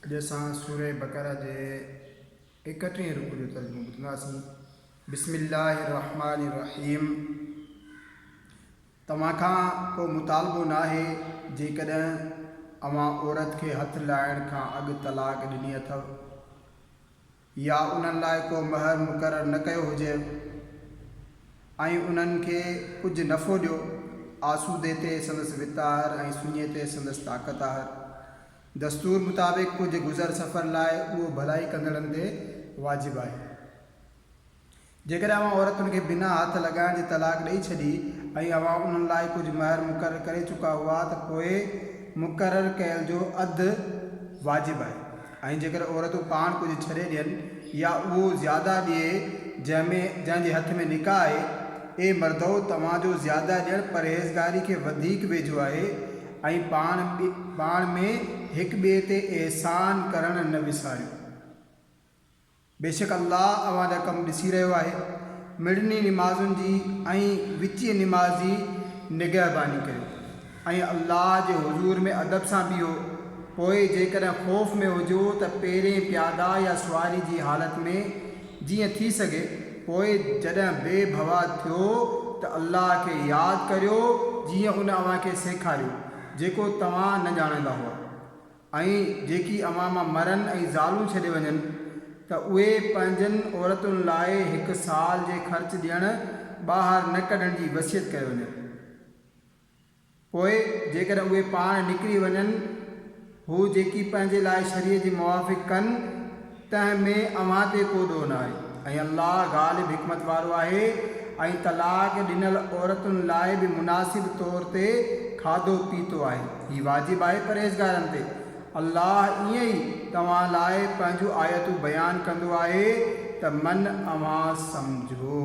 اڄ اسان سورة بقرة جي ايڪٽيهين رڪوع جو ترجمو ٻڌنداسين. بسم الله الرحمٰن الرحيم توهان کان ڪو مطالبو ناهي جيڪڏهن اوهان عورت کي هٿ لائڻ کان اڳ طلاق ڏني اٿو يا انهن لاء ڪو مهر مقرر نه ڪيو هجي ۽ انهن کي ڪجهه نفعو ڏيو، آسودي تي سندس وت آهر ۽ سڃي تي سندس طاقت آهر. دستور مطابق ڪجهه گذر سفر لاء اهو ڀلائي ڪندڙن تي واجب آهي. جيڪڏهن اوهان عورتن کي بنا هٿ لڳائڻ جي طلاق ڏئي ڇڏي ۽ اوهان انهن لاء ڪجهه مهر مقرر ڪري چڪا هئا ته پوء مقرر ڪيل جو اڌ واجب آهي ۽ جيڪڏهن عورتون پاڻ ڪجهه ڇڏي ڏين يا اهو زياده ڏئي جنهن ۾ جنهن جي هٿ ۾ نڪاح آهي، اي مردؤ! توهان جو زياده ڏيڻ پرهيزگاري کي وڌيڪ ويجهو آهي ۽ پاڻ پاڻ ۾ هڪ ٻئي تي احسان ڪرڻ نه وساريو. بيشڪ الله اوهان جا ڪم ڏسي رهيو آهي. مڙني نمازن جي ۽ وچيء نماز جي نگهباني ڪريو ۽ الله جي حضور ۾ ادب سان بيهو. پوء جيڪڏهن خوف ۾ هجو ته پيرين پياده يا سواري جي حالت ۾ جيئن ٿي سگهي، پوء جڏهن بي ڀوا ٿيو ته الله کي ياد ڪريو جيئن ان اوهان کي سيکاريو، جيڪو توهان نه ڄاڻندا هئا. ۽ جيڪي اوهان مان مرن ۽ زالون ڇڏي وڃن ته اهي پنهنجن عورتن لاء هڪ سال جي خرچ ڏيڻ ٻاهر نه ڪڍڻ جي وصيت ڪيو وڃي پوء جيڪڏهن اهي پاڻ نڪري وڃن هو جيڪي پنهنجي لاء شريعت جي موافق ڪن تنهن ۾ اوهان تي ڪو ڏوهه نه آهي ۽ الله غالب حڪمت وارو آهي ۽ طلاق ڏنل عورتن لاء به مناسب طور تي کاڌو پيتو آهي هي واجب آهي پرهيزگارن تي الله ائين ئي توهان لاء پنهنجون آيتون بيان ڪندو آهي ته من اوهان سمجهو.